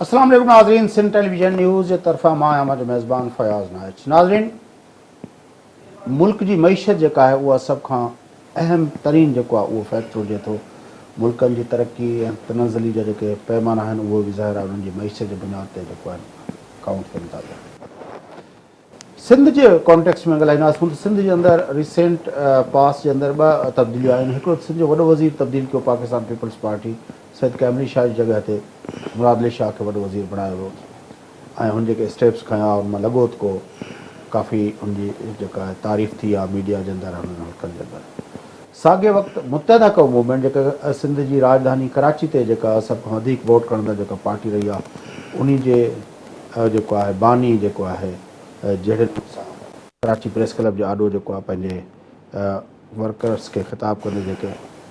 اسلام عليڪم ناظرين سنڌ ٽيليويزن نيوز جي طرفان مان آهيان اهو ميزبان فياض نائچ ناظرين ملڪ جي معيشت جيڪا آهي اها سڀ کان اهم ترين جيڪو آهي اهو فيڪٽر هجي ٿو. ملڪن جي ترقي ۽ تنزلي جا جيڪي پيمانا آهن اهي به ظاهر آهي انهن جي معيشت جي بنياد تي جيڪو آهن ڪائونٽ ڪن ٿا پيا. سنڌ جي ڪانٽيڪسٽ ۾ ڳالهائينداسون ته سنڌ جي اندر ريسينٽ پاس جي اندر ٻه تبديليون آيون آهن. هڪڙو ته سنڌ جو وڏو وزير تبديل ڪيو پاڪستان پيپلز پارٽي سيد ڪيملي شاهه جي جڳهه تي مراد علي شاهه کي وڏو وزير بڻايو ويو. ۽ هن جيڪي اسٽيپس کنيا ان مان لڳو ته ڪو ڪافي ان جي جيڪا آهي تعريف ٿي آهي ميڊيا جي اندر هنن حلقن جي اندر ساڳئي وقت متحده قوم موومينٽ جيڪا سنڌ جي راڄڌاني ڪراچي تي جيڪا سڀ کان وڌيڪ ووٽ کڻندڙ جيڪا پارٽي رهي آهي انهي جي جيڪو آهي باني جيڪو آهي جهڙي نموني سان ڪراچي پريس ڪلب جي آڏو جيڪو آهي پنهنجي ورڪرز کي خطاب ڪندي جيڪي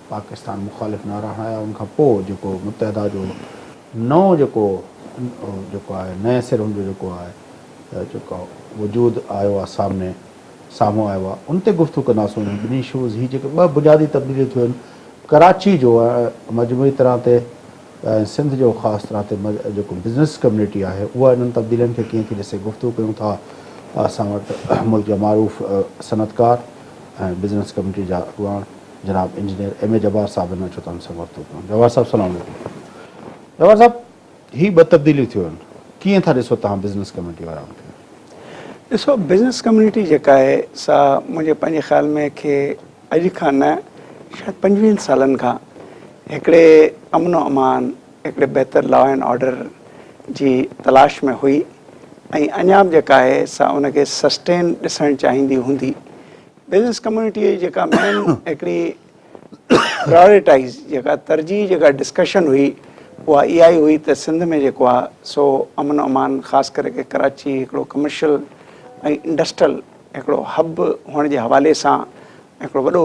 پاڪستان مخالف نعرا هڻايا ان کان پوء جيڪو متحده جو نئون جيڪو جيڪو آهي نئين سر ان جو جيڪو آهي جيڪو وجود آيو آهي سامني سامهون آيو آهي ان تي گفتگو ڪنداسون انهن ٻنهي شوز هي جيڪي ٻه بنيادي تبديليون ٿيون آهن ڪراچي جو مجموعي طرح تي سنڌ جو خاص طرح تي جيڪو بزنس ڪميونٽي آهي اها انهن تبديلين کي ڪيئن ٿي ڏسي گفتگو ڪيون ٿا اسان وٽ ملڪ جا معروف صنعتڪار ۽ بزنس ڪميٽي جا اڳواڻ جناب انجنيئر ايم اي جبار صاحب هن اچو ته ان سان ورتو ڪيون. جبار صاحب سلام عليڪم. جبار صاحب هي ٻه تبديليون ٿيون آهن ڪيئن ٿا ڏسو توهان بزنس ڪميٽي وارا ان کي؟ ڏسو بزنس ڪميونٽي جيڪا آهي سا منهنجي پنهنجي خيال ۾ کي اڄ کان نه شايد پنجويهن سالن کان هڪڙي امن و امان هڪڙي بهتر لا اينڊ آرڊر جي تلاش ۾ هئي ۽ اڃا به جيڪا آهي سا ان کي سسٽين ڏسڻ چاهيندي هوندي. بزنس ڪميونٽيء جي جيڪا مين هڪڙي پرائريٽائيز جيڪا ترجيح جيڪا ڊسڪشن هئي اها اها ئي هئي ته سنڌ ۾ جيڪو آهي سو امن و امان خاص ڪري ڪي ڪراچي هڪڙو ڪمرشل ۽ انڊسٽرل هڪڙو هب هئڻ جي حوالي سان هڪڙو وڏو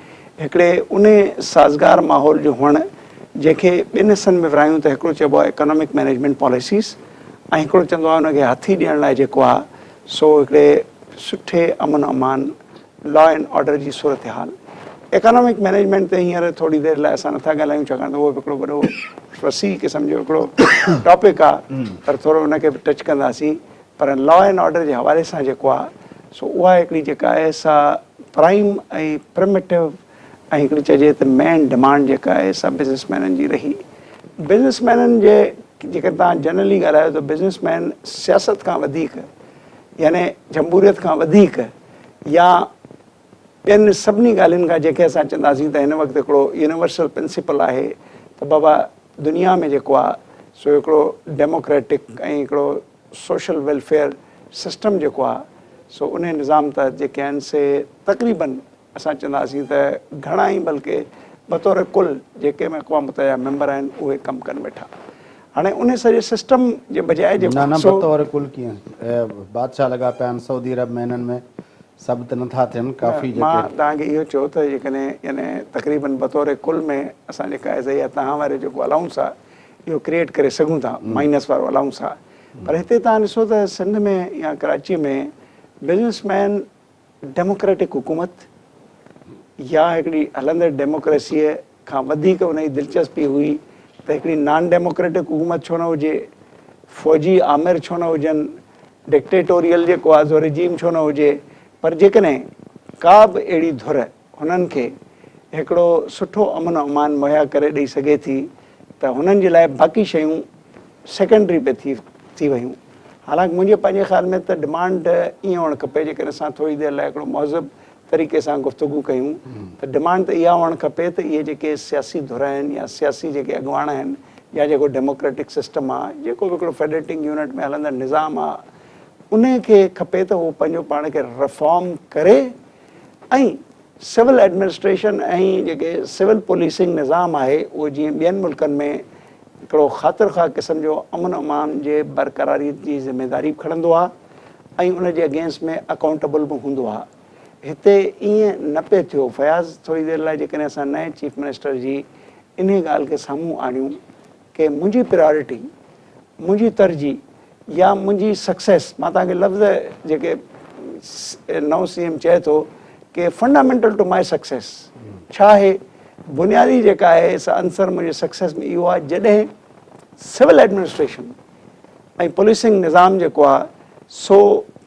هڪڙي انهي سازگار ماحول جو هئڻ جنهن کي ٻن حصن ۾ ورهايون ته هڪڙو چئبو آهي اڪانومڪ مئنيجمينٽ پاليسيز ۽ هڪڙو چوندو آهي ان کي هٿي ڏيڻ لاء جيڪو آهي سو هڪڙي سٺي امن امان لا اينڊ آرڊر جي صورتحال اڪانومڪ مئنيجمينٽ تي هينئر ٿوري دير لاء اسان نٿا ڳالهايون ڇاڪاڻ ته اهو به هڪڙو وڏو وسيع قسم جو هڪڙو ٽاپڪ آهي پر ٿورو ان کي به ٽچ ڪنداسين پر لا اينڊ آرڊر جي حوالي سان جيڪو آهي سو اها هڪڙي جيڪا آهي سا پرائم ۽ پرميٽو ۽ هڪڙي چئجي ته مين ڊمانڊ جيڪا آهي سا بزنس مينن جي رهي. بزنس مينن جي جيڪڏهن توهان جنرلي ڳالهايو ته بزنس مين سياست کان وڌيڪ يعني جمهوريت کان وڌيڪ يا ٻين سڀني ڳالهين کان جنهن کي اسان چونداسين ته هن وقت هڪڙو يونيورسل پرنسپل آهي ته بابا دنيا ۾ جيڪو آهي سو هڪڙو ڊيموڪريٽڪ ۽ هڪڙو سوشل ويلفيئر سسٽم جيڪو آهي سو انهي نظام تحت جيڪي آهن سي تقريباً اسان چونداسين ته گهڻا ئي بلڪه بطور ڪل جيڪي به اقوام متحده جا ميمبر آهن اهي ڪم ڪن ويٺا. هاڻي انهي سڄي سسٽم جي بجاء جيڪو نه نه بطور ڪل ڪيئن بادشاهه لڳا پيا آهن سعودي عرب ۾ انهن ۾ سڀ ته نٿا ٿين ڪافي جيڪي. مان توهان کي اهو چيو ته جيڪڏهن يعني تقريباً بطور ڪل ۾ اسان جيڪا ايز اي تهان واري جيڪو الائونس آهي. اهو ڪريئيٽ ڪري سگهون ٿا مائنس وارو الاونس سان پر هتي توهان ڏسو ته سنڌ ۾ يا ڪراچي ۾ بزنس مين ڊيموڪريٽڪ حڪومت يا هڪڙي هلندڙ ڊيموڪريسيء کان وڌيڪ ان جي دلچسپي هئي ته هڪڙي نان ڊيموڪريٽڪ حڪومت ڇو نه هجي فوجي آمر ڇو نه هجن ڊڪٽيٽوريل جيڪو آزو رجيم ڇو نه هجي پر جيڪڏهن ڪا به اهڙي ڌر هنن کي هڪڙو سٺو امن و امان مهيا ڪري ڏئي سگهي ٿي ته هنن جي لاء باقي شيون سيڪنڊري پئي ٿي ٿي ويون حالانڪ منهنجي پنهنجي خيال ۾ ته ڊمانڊ ائين هئڻ کپي جيڪڏهن اسان ٿوري دير لاء هڪڙو مهذب طريقي سان گفتگو ڪيون ته ڊمانڊ ته اها هئڻ کپي ته اهي جيڪي سياسي ڌر آهن يا سياسي جيڪي اڳواڻ آهن يا جيڪو ڊيموڪريٽڪ سسٽم آ جيڪو به هڪڙو فيڊريٽنگ يونٽ ۾ هلندڙ نظام آ انهي کي کپي ته هو پنهنجو پاڻ کي رفارم ڪري ۽ سول ايڊمنسٽريشن ۽ جيڪي سول پوليسنگ نظام آهي اهو جيئن ٻين ملڪن ۾ هڪڙو خاطر خواهه قسم جو امن امان جي برقراري جي ذميواري به کڻندو آهي ۽ ان جي اگينسٽ ۾ اڪائونٽيبل به هوندو آهي هتي ائين نه پئي ٿيو فياض ٿوري دير لاء جيڪڏهن اسان نئين چيف منسٽر جي انهي ڳالهه کي سامهون آڻيون ڪي منهنجي پريارٽي، منهنجي ترجيح يا منهنجي سڪسيس مان توهان کي لفظ جيڪي نئون سي ايم چئي ٿو ڪي فنڊامينٽل ٽو ماء سڪسيس ڇا آهي بنيادي جيڪا آهي سا عنصر منهنجي سڪسيس ۾ اهو آهي جڏهن سول ايڊمنسٽريشن ۽ پوليسنگ نظام جيڪو آهي سو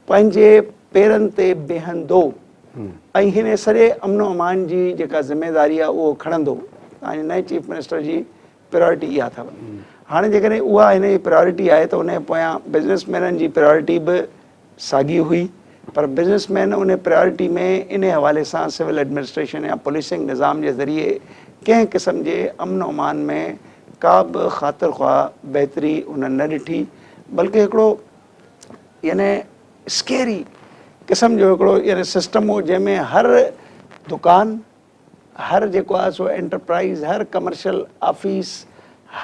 پنهنجي پيرن تي بيهندو ۽ هن سڄي امن و امان جي جيڪا ذميواري آهي اهو کڻندو تان جي نئين چيف منسٽر جي پرائرٽي اها اٿو. هاڻي جيڪڏهن اها هن جي پرائرٽي آهي ته ان جي پويان بزنس مينن جي پرائرٽي به ساڳي هئي پر بزنس مين ان پرائرٽي ۾ انهي حوالي سان سول ايڊمنسٽريشن يا پوليسنگ نظام جي ذريعي ڪنهن قسم جي امن و امان ۾ ڪا به خاطر خواهه بهتري هنن نه ڏٺي بلڪه هڪڙو يعني اسڪيري قسم جو هڪڙو يعني سسٽم هو جنهن ۾ هر دڪان هر جيڪو آهي سو انٽرپرائيز، هر ڪمرشل آفيس،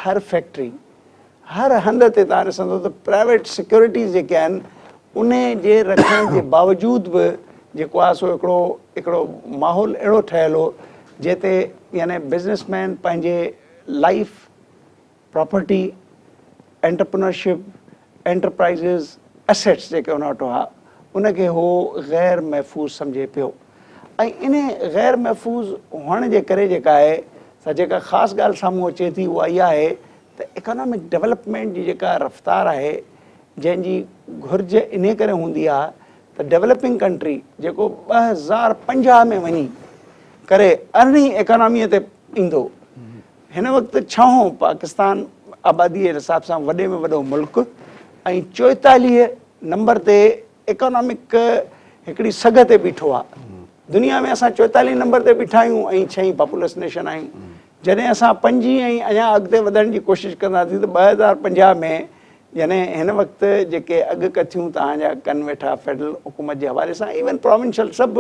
هر فيڪٽري، هر هنڌ تي توهان ڏسندو ته پرائيويٽ سيڪيورٽيز جيڪي آهن انهي جي رکڻ جي باوجود به جيڪو آهي سو هڪڙو هڪڙو ماحول اهڙو ٺهيل هو جنهن تي يعني بزنس مين پنهنجي life property, entrepreneurship, enterprises, assets جيڪي ان وٽ هئا، ان کي هو غير محفوظ سمجهي پيو ۽ انهي غير محفوظ هئڻ جي ڪري جيڪا آهي سا جيڪا خاص ڳالهه سامهون اچي ٿي اها اها آهي ته اڪانامڪ ڊولپمينٽ جي جيڪا رفتار آهي جنهن جي گهرج انهي ڪري هوندي آهي ته ڊولپنگ ڪنٽري جيڪو ٻه هزار پنجاهه ۾ وڃي ڪري ارڙهين اڪاناميء تي ايندو هن وقت ڇهون پاڪستان آباديء جي حساب سان وڏي ۾ وڏو ملڪ ۽ چوئيتاليهه نمبر تي ايڪانامڪ هڪڙي سگهه تي بيٺو آ. دنيا ۾ اسان چوئيتاليهه نمبر تي بيٺا آهيون ۽ ڇهين پاپولس نيشن آهيون. جڏهن اسان پنجين ۽ اڃا اڳتي وڌڻ جي ڪوشش ڪنداسين ته ٻه هزار پنجاهه ۾ جڏهن هن وقت جيڪي اڳڪٿيون توهان جا ڪن ويٺا فيڊرل حڪومت جي حوالي سان ايون پراونشل سڀ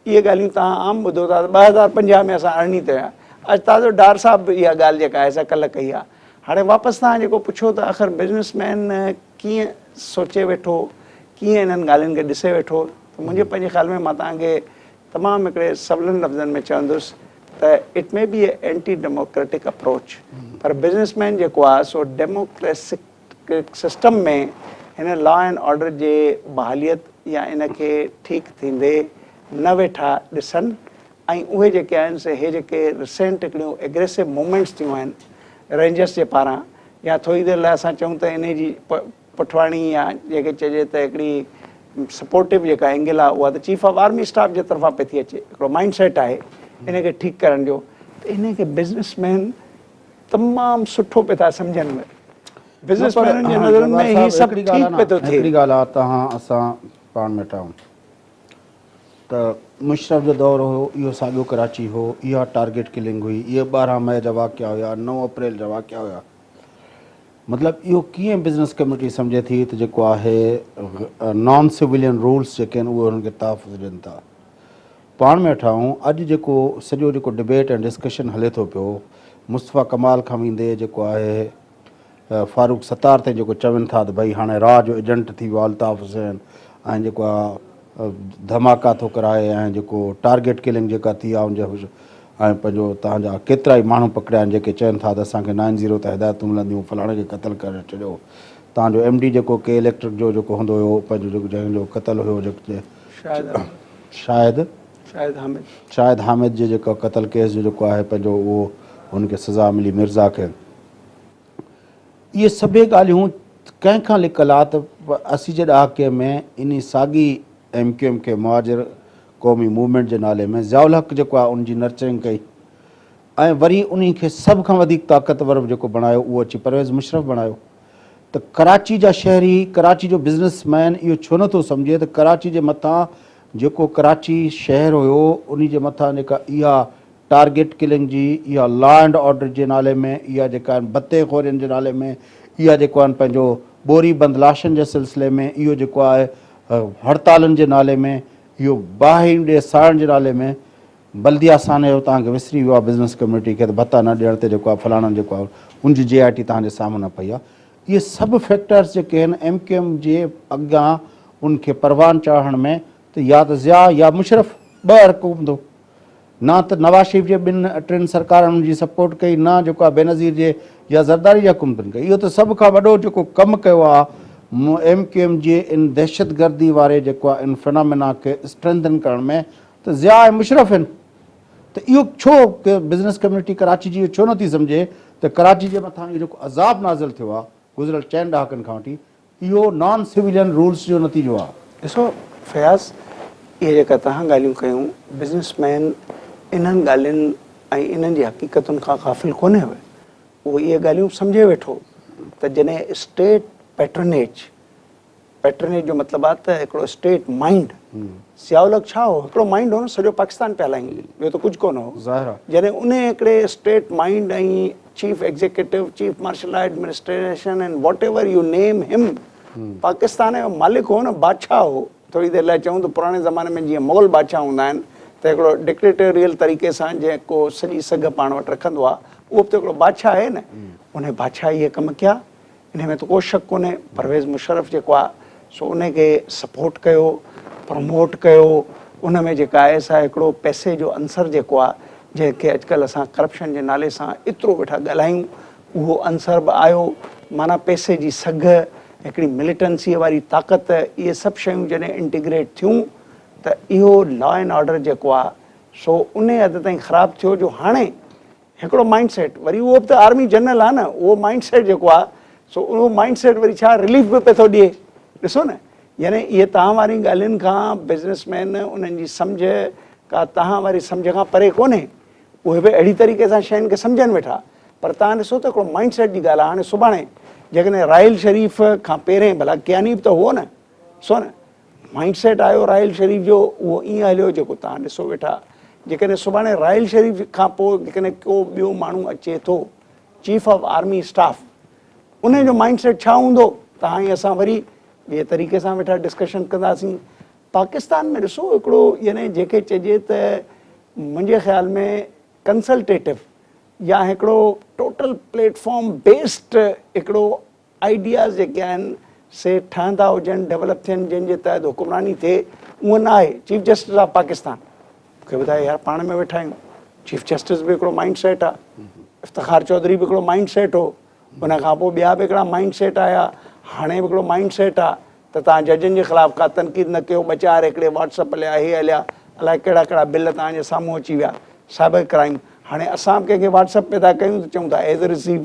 اهي ڳالهيون توهان عام ٻڌو ٿا ته ٻه هزار پنجاهه ۾ اسان ارڙهن تي هيا. اڄ تازو ڊار صاحب به اها ڳالهه جيڪا آهي سا ڪلهه ڪئي آهي. هاڻي واپس توهان جيڪو پڇو ته آخر بزنس مين ڪيئن سوچي ويٺو، ڪيئن انهن ڳالهين کي ڏسي ويٺو ته منهنجي پنهنجي خيال ۾ مان توهان کي تمام هڪڙي سولن لفظن ۾ چوندس ته it may be a anti democratic approach پر بزنس مين جيڪو آهي سو ڊيموڪريسڪ سسٽم ۾ هن لا اينڊ آرڊر جي بحاليت يا ان کي ٺيڪ ٿيندي نه ويٺا ڏسن ۽ اهي جيڪي آهن سي هي جيڪي ريسينٽ هڪڙيون ايگريسو موومينٽس ٿيون آهن رينجرس جي پاران يا ٿوري دير لاء اسان چئون ته انهي جي پٺواڻي يا جيڪي چئجي ته هڪڙي سپورٽو جيڪا اينگل آهي اها ته چيف آف آرمي اسٽاف جي طرفان پئي ٿي اچي هڪڙو مائنڊ سيٽ آهي ان کي ٺيڪ ڪرڻ جو ته انهي کي بزنس مين تمام سٺو پئي ٿا سمجهن اهي بزنس مينن جي نظرن ۾ هي سڀ ٺيڪ پئي ٿو ٿئي. هڪڙي ڳالهه آ توهان اسان پاڻ ۾ ٽائون ته مشرف جو دور هيو اهو ساڳيو ڪراچي هو اها ٽارگيٽ ڪلنگ هئي اهي ٻارهن مئي جا واقعا هيا نو اپريل جا واقعا هيا مطلب اهو ڪيئن بزنس ڪميٽي سمجهي ٿي ته جيڪو آهي نان سولين رولس جيڪي آهن اهي هن کي تحفظ ڏين ٿا. پاڻ ۾ اٺائون اڄ جيڪو سڄو جيڪو ڊبيٽ ۽ ڊسڪشن هلي ٿو پيو مصطفيٰ ڪمال کان ويندي جيڪو آهي فاروق ستار تائين جيڪو چون ٿا ته ڀئي هاڻي را جو ايجنٽ ٿي ويو آهي الطاف حسين ۽ جيڪو آهي ڌماڪا ٿو ڪرائي ۽ جيڪو ٽارگيٽ ڪلنگ جيڪا ٿي آهي ان جا ۽ پنهنجو تان جا ڪيترا ئي ماڻهو پڪڙيا آهن جيڪي چون ٿا ته اسان کي نائن زيرو تان هدايتون ملنديون فلاڻي کي قتل ڪري ڇڏيو تان جو ايم ڊي جيڪو ڪي اليڪٽرڪ جو جيڪو هوندو هيو پنهنجو جيڪو جنهن جو قتل هيو جيڪو شاهد شاهد حامد جي جيڪو قتل ڪيس جو جيڪو آهي پنهنجو اهو هن کي سزا ملي مرزا کي اهي سڀيئي ڳالهيون ڪنهن کان لڪل آ ته اسي جي ڏهاڪي ۾ انهي ساڳي ايم ڪيو ايم کي مهاجر قومي موومينٽ جي نالي ۾ ضياء الحق جيڪو آهي ان جي نرچرنگ ڪئي ۽ وري انهي کي سڀ کان وڌيڪ طاقتور جيڪو بڻايو اهو اچي پرويز مشرف بڻايو ته ڪراچي جا شهري، ڪراچي جو بزنس مين اهو ڇو نه ٿو سمجهي ته ڪراچي جي مٿان جيڪو ڪراچي شهر هيو انهي جي مٿان جيڪا اها ٽارگيٽ ڪلنگ جي اها لا اينڊ آرڊر جي نالي ۾ اها جيڪا آهن بتي خورين جي نالي ۾ اها جيڪو آهن پنهنجو ٻوري بند لاشن جي سلسلي ۾ اهو جيڪو آهي هڙتالن جي نالي ۾ اهو باهين ڏي ساڙڻ جي نالي ۾ بلديه سان اهو توهان کي وسري ويو آهي بزنس ڪميونٽي کي ته ڀتا نه ڏيڻ تي جيڪو آهي فلاڻن جيڪو آهي ان جي جي آء ٽي توهان جي سامهون پئي آهي اهي سڀ فيڪٽرس جيڪي آهن ايم ڪيو ايم جي اڳيان ان کي پروان چاڙهڻ ۾ ته يا ته ضياء يا مشرف ٻه ارڪ هوندو نه ته نواز شريف جي ٻن ٽن سرڪارن ان جي سپورٽ ڪئي نه جيڪو آهي بينظير جي يا زرداري جي حڪومتن ڪئي اهو ته سڀ کان وڏو جيڪو ڪم ڪيو آهي ايم ڪيو ايم جي ان دهشتگردي واري جيڪو آهي ان فنامنا کي اسٽرينڌن ڪرڻ ۾ ته ضياء ۽ مشرف هن ته اهو ڇو ڪي بزنس ڪميونٽي ڪراچي جي اهو ڇو نه ٿي سمجهي ته ڪراچي جي مٿان اهو جيڪو عذاب نازل ٿيو آهي گذريل چئن ڏهاڪن کان وٺي اهو نان سويلين رولز جو نتيجو آهي. ڏسو فياض اهي جيڪا توهان ڳالهيون ڪيون بزنس مين انهن ڳالهين ۽ انهن جي حقيقتن کان غافل ڪونهي هو اهو اهي ڳالهيون سمجهي ويٺو ته جڏهن اسٽيٽ پيٽرنيج پيٽرنيج جو مطلب آ ته هڪڙو اسٽيٽ مائنڊ ضياء الحق ڇا هو هڪڙو مائنڊ هو نه سڄو پاڪستان پيا هلائين ٻيو ته ڪجهه ڪونه هو ظاهر آ جڏهن انهي هڪڙي state mind ۽ chief executive chief martial law administration and whatever you name him Pakistan جو مالڪ هو نه بادشاهه هو ٿوري دير لاء چئون ته پراڻي زماني ۾ جيئن مغل بادشاهه هوندا آهن ته هڪڙو ڊڪٽيٽوريل طريقي سان جيڪو سڄي سگهه پاڻ وٽ رکندو آ اهو به ته هڪڙو بادشاهه آهي نه انهي بادشاهه اهي ڪم ڪيا انهي ۾ ته ڪو شڪ ڪونهي پرويز مشرف جيڪو آ سو انهي کي سپورٽ ڪيو پروموٽ ڪيو ان ۾ جيڪا آهي سا هڪڙو پئسي جو عنصر جيڪو آ جنهن کي اڄ ڪلهه اسان ڪرپشن جي نالي سان ايترو ويٺا ڳالهايون اهو عنصر به آيو معنيٰ پئسي جي سگهه هڪڙي مليٽنسي واري طاقت اهي سڀ شيون جڏهن انٽيگريٽ ٿيون ته اهو لا اينڊ آرڊر جيڪو آ سو انهي حد تائين خراب ٿيو جو هاڻي هڪڙو مائنڊ سيٽ وري اهو به ته آرمي جنرل آهي نه اهو مائنڊ سيٽ جيڪو آهي سو اهو مائنڊ سيٽ وري ڇا رليف به پئي ٿو ڏئي ڏسو نه يعني اهي تهان وارين ڳالهين کان بزنس مين انهن جي سمجهه ڪا تهان واري سمجهه کان پري ڪونهي اهي به اهڙي طريقي سان شين کي سمجهن ويٺا پر تهان ڏسو ته هڪڙو مائنڊ سيٽ جي ڳالهه آهي هاڻي سڀاڻي جيڪڏهن راحيل شريف کان پهرين ڀلا ڪياني به ته هئو نه سو نه مائينڊ سيٽ آيو راحيل شريف جو اهو ائين هليو جيڪو توهان ڏسو ويٺا جيڪڏهن سڀاڻي راحيل شريف کان پوء جيڪڏهن ڪو ٻيو ماڻهو اچي ٿو چيف آف آرمي اسٽاف انهي جو مائينڊ سيٽ ڇا هوندو ته هاڻي اسان وري ٻئي طريقي سان ويٺا ڊسڪشن ڪنداسين پاڪستان ۾ ڏسو هڪڙو يعني جيڪي چئجي ته منهنجي خيال ۾ ڪنسلٽيٽو يا هڪڙو ٽوٽل پليٽ فارم بيسڊ هڪڙو آئيڊياز جيڪي آهن سي ٺهندا هجن، ڊولپ ٿين جن جي تحت حڪمراني ٿئي اؤن نه آهي چيف جسٽس آف پاڪستان کي ٻڌائي يار پاڻ ۾ ويٺا آهيون چيف جسٽس به هڪڙو مائنڊ سيٽ آ افتخار چوڌري به هڪڙو مائنڊ سيٽ هو ان کان پوء ٻيا به هڪڙا مائنڊ سيٽ آيا هاڻي به هڪڙو مائنڊ سيٽ آ ته تان ججن جي خلاف ڪا تنقيد نه ڪيو ٻه چار هڪڙي واٽس اپ هليا هي هليا الائي ڪهڙا ڪهڙا بل تان جي سامهون اچي ويا سائبر ڪرائيم هاڻي اسان به ڪنهن کي واٽس اپ پيدا ڪيون ته چئون ٿا as received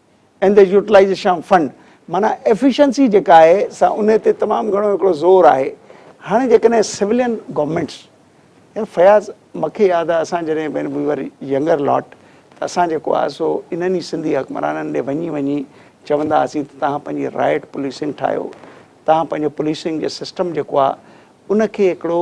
under utilisation of fund معنيٰ ايفيشنسي جيڪا آهي سا ان تي تمام گهڻو هڪڙو زور آهي هاڻي جيڪڏهن سولين گورنمينٽس يا فياض مکي ياد آهي اسان جڏهن وين وي ور ينگر لاٽ ته اسان جيڪو آهي سو انهن ئي سنڌي حڪمرانن ڏي وڃي وڃي چوندا هئاسين ته توهان پنهنجي رائيٽ پوليسنگ ٺاهيو توهان پنهنجو پوليسنگ جي سسٽم جيڪو آهي ان کي هڪڙو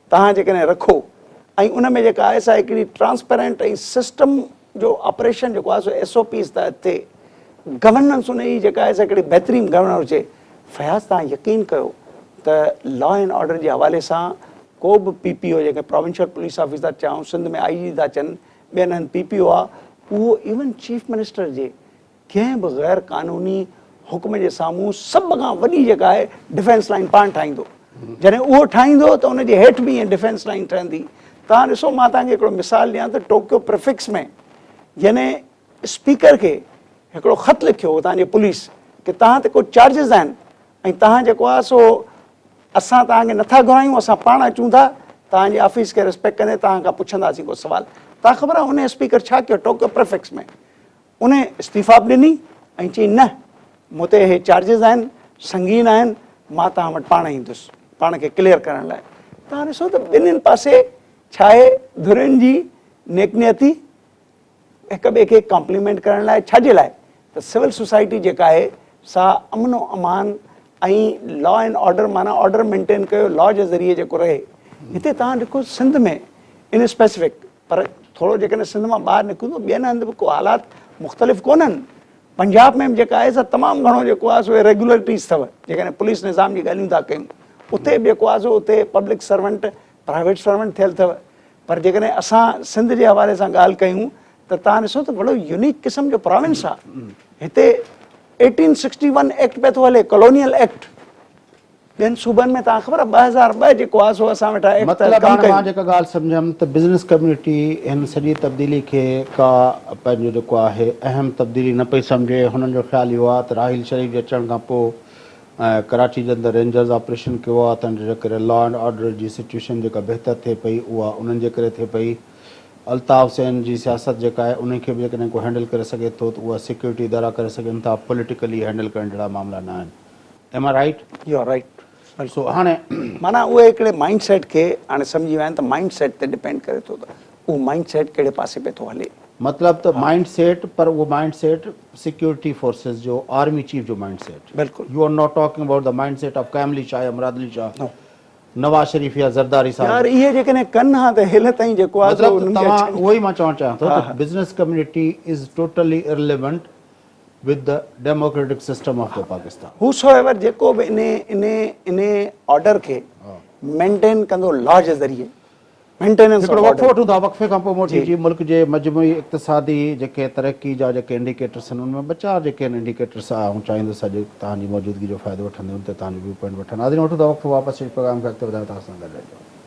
توهان جيڪڏهن رکو ۽ ان ۾ جيڪا آهي سا هڪڙي ٽرانسپيرنٽ ۽ سسٽم جو آپريشن جيڪو آهي سو ايس او پيز تحت ٿئي، گورننس ان جي جيڪا آهي سا هڪڙي بهترين گورننس هجي. فياض توهان يقين ڪيو ته لا اينڊ آرڊر جي حوالي سان ڪو به پي پي او جيڪي پراونشل پوليس آفيس ٿا چئون، سنڌ ۾ آئي جي ٿا چئن، ٻين هنڌ پي پي او آ، اهو ايون چيف منسٽر جي ڪنهن به غير قانوني حڪم جي سامهون سڀ کان وڏي جيڪا آهي ڊفينس لائين پاڻ ٺاهيندو جڏهن اهو ٺاهيندو ته ان جي هيٺ به ائين ڊفينس لائين ٺهندي توهان ڏسو مان توهان کي هڪڙو مثال ڏيان ته ٽوڪيو پريفڪس ۾ جنهن اسپيڪر کي هڪڙو خط لکيو هو توهان جي پوليس ڪي توهان تي ڪو چارجز آهن ۽ توهان جيڪو آهي سو اسان توهان کي نٿا گهرايون اسان پاڻ اچون ٿا توهان جي آفيس کي ريسپيڪٽ ڪندي توهان کان پڇنداسين ڪو سوال توهان کي خبر آهي ان اسپيڪر ڇا ڪيو ٽوڪيو پريفڪس ۾ ان استعيفا به ڏني ۽ چيائين نه مون تي اهي چارجز آهن، سنگين آهن، مان توهان وٽ پاڻ ايندس پاڻ کي ڪليئر ڪرڻ لاء. توهان ڏسو ته ٻنهين پاسي ڇاهي ڌرين جي نيڪ نيتي هڪ ٻئي کي ڪامپليمينٽ ڪرڻ لاء ڇاجي لاء ته سول سوسائٽي جيڪا آهي سا امن و امان ۽ لا اينڊ آرڊر معنيٰ آرڊر مينٽين ڪيو لا جي ذريعي جيڪو رهي هتي توهان ڏکو سنڌ ۾ ان اسپيسفڪ پر ٿورو جيڪڏهن سنڌ مان ٻاهر نڪرون ته ٻين هنڌ به ڪو حالات مختلف ڪونهن. پنجاب ۾ به جيڪا آهي سا تمام گهڻو جيڪو آهي سو Irregularities اٿو. جيڪڏهن پوليس نظام جي ڳالهيون ٿا ڪيون. اتي به جيڪو آهي سو اتي پبلڪ سرونٽ پرائيويٽ سرونٽ ٿيل اٿو. پر جيڪڏهن اسان سنڌ جي حوالي سان ڳالهه ڪيون ته توهان ڏسو ته وڏو يونيڪ قسم جو پراونس آهي. هتي ايٽين سڪسٽي ون ايڪٽ پئي ٿو هلي ڪالونيل ايڪٽ. ٻين صوبن ۾ توهان کي خبر آهي ٻه هزار ٻه جيڪو آهي سو اسان ويٺا ايڪ تحت ڪم ڪيون. مطلب هاڻي مان جيڪا ڳالهه سمجهيم ته بزنس ڪميونٽي هن سڄي تبديلي کي ڪا پنهنجو جيڪو آهي اهم تبديلي نه پئي سمجهي هنن جو خيال اهو آهي ته راحيل شريف جي اچڻ کان پوء ڪراچي جي اندر رينجرز آپريشن ڪيو آهي تنهن جو جي ڪري لا اينڊ آرڊر جي سچويشن جيڪا بهتر ٿئي پئي اها انهن جي ڪري ٿئي پئي الطاف حسين جي سياست جيڪا آهي انهي کي به جيڪڏهن ڪو هينڊل ڪري سگهي ٿو ته اها سيڪيورٽي ادارا ڪري سگهن ٿا پوليٽيڪلي هينڊل ڪرڻ جهڙا معاملا نه آهن Am I right؟ You are right. So هاڻي. معنيٰ اهي هڪڙي مائنڊ سيٽ کي هاڻي سمجهي ويا آهن ته مائنڊ سيٽ تي ڊپينڊ ڪري ٿو ته اهو مائنڊ سيٽ ڪهڙي پاسي پئي ٿو هلي. مطلب ته مائنڊ سيٽ پر اهو مائنڊ سيٽ سيڪيورٽي فورسز جو آرمي چيف جو مائنڊ سيٽ. بلڪل. You are not talking about the mind set of Qaim Ali Shah يا مراد علي شاهه. نو. نواز شريف يا زرداري صاحب. يار اهي جيڪڏهن ڪن ها ته هيل تائين جيڪو آهي. مطلب ته توهان اهو ئي مان چوڻ چاهيان ٿو ته business community is totally irrelevant. with the democratic system of the Pakistan. Whosoever جيڪو به انهي انهي انهي آرڊر کي مينٽين ڪندو لا جي ذريعي مينٽيننس هڪڙو وقفو وٺون ٿا وقفي کان پوء موٽي جي ملڪ جي مجموعي اقتصادي جيڪي ترقي جا جيڪي انڊيڪيٽرس آهن ان ۾ ٻه چار جيڪي آهن انڊيڪيٽرس آئون چاهيندس اڄ توهان جي موجودگي جو فائدو وٺندي ان تي توهان جو ويو پوائنٽ وٺن حاضرين وٺون ٿا وقفو واپس اچي پروگرام کي اڳتي وڌائيون توهان سان گڏ رهجو.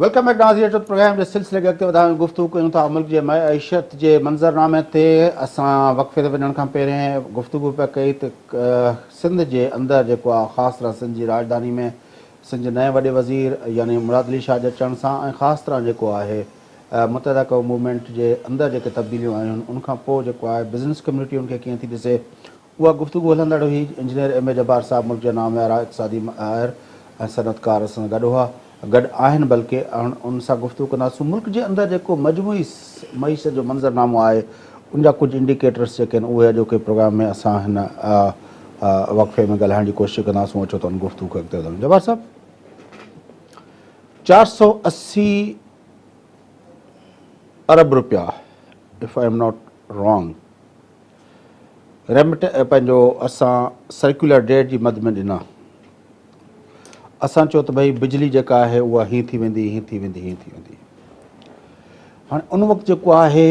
ويلڪم بيڪ ناظرين اچو ته پروگرام جي سلسلي کي اڳتي وڌايون گفتگو ڪيون ٿا ملڪ جي معيشت جي منظرنامي تي اسان وقفي تي وڃڻ کان پهرين گفتگو پيا ڪئي ته سنڌ جي اندر جيڪو آ خاص طرح سنڌ جي راڄڌاني ۾ سنڌ جي نئين وڏي وزير يعني مراد علي شاهه جي اچڻ سان ۽ خاص طرح جيڪو آهي متحده قوم موومينٽ جي اندر جيڪي تبديليون آيون ان کان پوء جيڪو آهي بزنس ڪميونٽي ان کي ڪيئن ٿي ڏسي اها گفتگو هلندڙ هئي، انجنيئر ايم اي جبار صاحب ملڪ جا ناميارا اقتصادي ماهر ۽ صنعتڪار سان گڏ هئا، گڏ آهن بلڪه، اهن انهن سان گفتگو ڪنداسون، ملڪ جي اندر جيڪو مجموعي معيشت جو منظر نامو آهي ان جا ڪجهه انڊيڪيٽرس جيڪي آهن اهي اڄوڪي پروگرام ۾ اسان هن وقفي ۾ ڳالهائڻ جي ڪوشش ڪنداسون اچو ته ان گفتگو کي اڳتي وڌائون جبار صاحب چار سؤ اسي ارب روپيا if I am not wrong remit ۽ پنهنجو اسان سرڪيولر ڊيٽ جي مد ۾ ڏنا. اسان چيو ته ڀئي بجلي جيڪا آهي اها هين ٿي ويندي هين ٿي ويندي هين ٿي ويندي. هاڻي ان وقت جيڪو آهي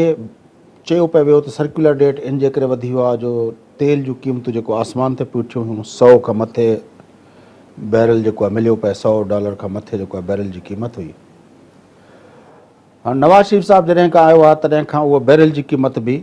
چيو پئي ويو ته سرڪيولر ڊيٽ ان جي ڪري وڌي ويو آهي جو تيل جون قيمتون جيڪو آسمان تي پيون اٿيون هيون سؤ کان مٿي بيرل جيڪو آهي مليو پئي سؤ ڊالر کان مٿي جيڪو آهي بيرل جي قيمت هئي. هاڻي نواز شريف صاحب جڏهن کان آيو آهي تڏهن کان اهو بيرل جي قيمت به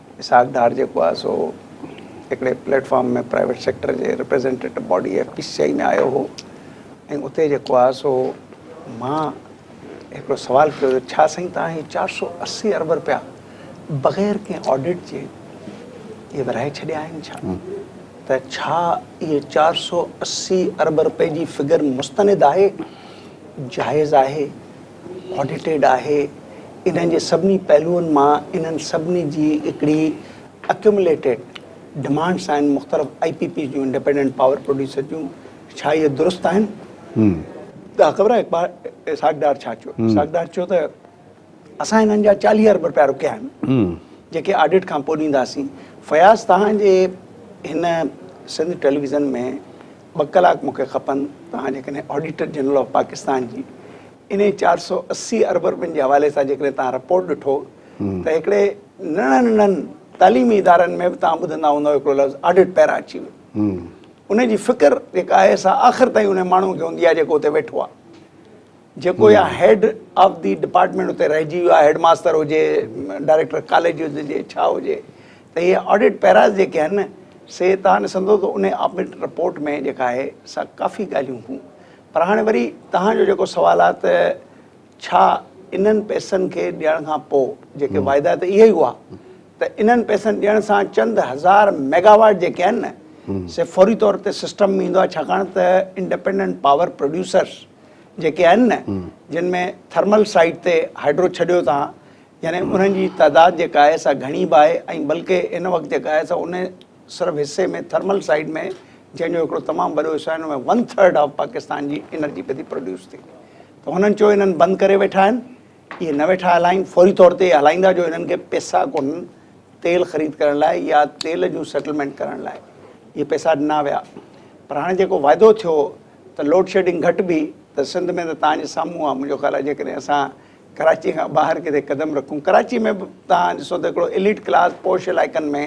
اسحاق ڊار جيڪو آهي سو هڪڙي پليٽ فارم ۾ پرائيويٽ سيڪٽر جي representative body F P C I ۾ آيو هو ۽ اتي جيڪو آهي سو مان هڪڙو سوال ڪيو هو ڇا سائين تان هي چار سو اسي ارب رپيا بغير ڪنهن آڊيٽ جي اهي ورهائي ڇڏيا آهن ڇا ته ڇا اهي چار سو اسي ارب رپئي جي فگر مستند آهي جائز آهي آڊيٽيڊ آهي انهن جي سڀني پهلوئن مان انهن سڀني جي هڪڙي اڪيومليٽيڊ ڊمانڊس آهن مختلف آئي پي پيز جون انڊيپينڊنٽ پاور پروڊيوسر جون ڇا اهي درست آهن تان خبر آهي اقبال اسحاق ڊار ڇا چيو اسحاق ڊار چيو ته اسان هنن جا چاليهه ارب رپيا رکيا آهن جيڪي آڊيٽ کان پوء ڏينداسين فياض تهان جي هن سنڌ ٽيليويزن ۾ ٻه ڪلاڪ مون کي کپن، توهان جيڪڏهن آڊيٽر جنرل آف پاڪستان جي انهي چار سؤ اسي ارب رپين جي حوالي سان جيڪڏهن توهان رپورٽ ڏٺو ته هڪڙي ننڍن ننڍن تعليمي ادارن ۾ به توهان ٻڌندا هوندا هڪڙو لفظ آڊيٽ پيرا اچي ويو ان جي فڪر جيڪا آهي سا آخر تائين انهي ماڻهو کي هوندي آهي جيڪو اتي ويٺو آهي. جيڪو يا هيڊ آف دي ڊپارٽمينٽ اتي رهجي ويو آهي هيڊ ماستر هجي ڊائريڪٽر ڪاليج هجي ڇا هجي ته هي آڊٽ پيراز جيڪي آهن نه سي توهان ڏسندو ته ان آڊٽ رپورٽ ۾ جيڪا آهي سا ڪافي ڳالهيون هون پر هاڻي وري توهان جو جيڪو سوال آهي ته ڇا انهن پئسن کي ڏيڻ کان پوء جيڪي واعدا ته اهي ئي هئا ته انهن پئسن ڏيڻ سان چند هزار ميگا واٽ جيڪي آهن نه سي فوري طور تي سسٽم ۾ ايندو آهي ڇاڪاڻ ته انڊپينڊنٽ پاور پروڊيوسرز جيڪي آهن نه جن ۾ ٿرمل سائيٽ تي هائڊرو ڇڏيو تان يعني انهن جي تعداد جيڪا آهي سا گهڻي به آهي ۽ بلڪه ان وقت جيڪا آهي سا ان صرف حصي ۾ ٿرمل سائيٽ ۾ جنهن جو هڪڙو تمام وڏو حصو آهي ان ۾ ون ٿرڊ آف پاڪستان جي انرجي پئي ٿي پروڊيوس ٿي ته هنن چيو انهن بند ڪري ويٺا آهن اهي نه ويٺا هلائين فوري طور تي هلائيندا جو انهن کي پئسا ڪونهن تيل خريد ڪرڻ لاء يا تيل جون سيٽلمينٽ ڪرڻ لاء اهي پئسا ڏنا ويا پر هاڻي جيڪو واعدو ٿيو ته لوڊ شيڊنگ گهٽبي ته سنڌ ۾ ته توهان جي سامهون آ منهنجو خيال آ جيڪڏهن اسان ڪراچي کان ٻاهر ڪٿي قدم رکون ڪراچي ۾ به توهان ڏسو ته هڪڙو اليٽ ڪلاس پوش علائقن ۾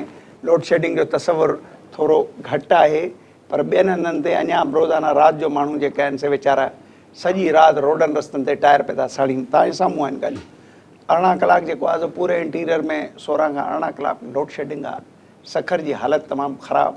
لوڊ شيڊنگ جو تصور ٿورو گهٽ آهي پر ٻين هنڌن تي اڃا به روزانه رات جو ماڻهو جيڪي آهن سي ويچارا سڄي رات روڊن رستن تي ٽائر پئي ٿا ساڙين توهان جي سامهون آهن ڳالهيون ارڙهن ڪلاڪ جيڪو آ سو پوري انٽيريئر ۾ سورهن کان ارڙهن ڪلاڪ لوڊ شيڊنگ آ سکر جي حالت تمام خراب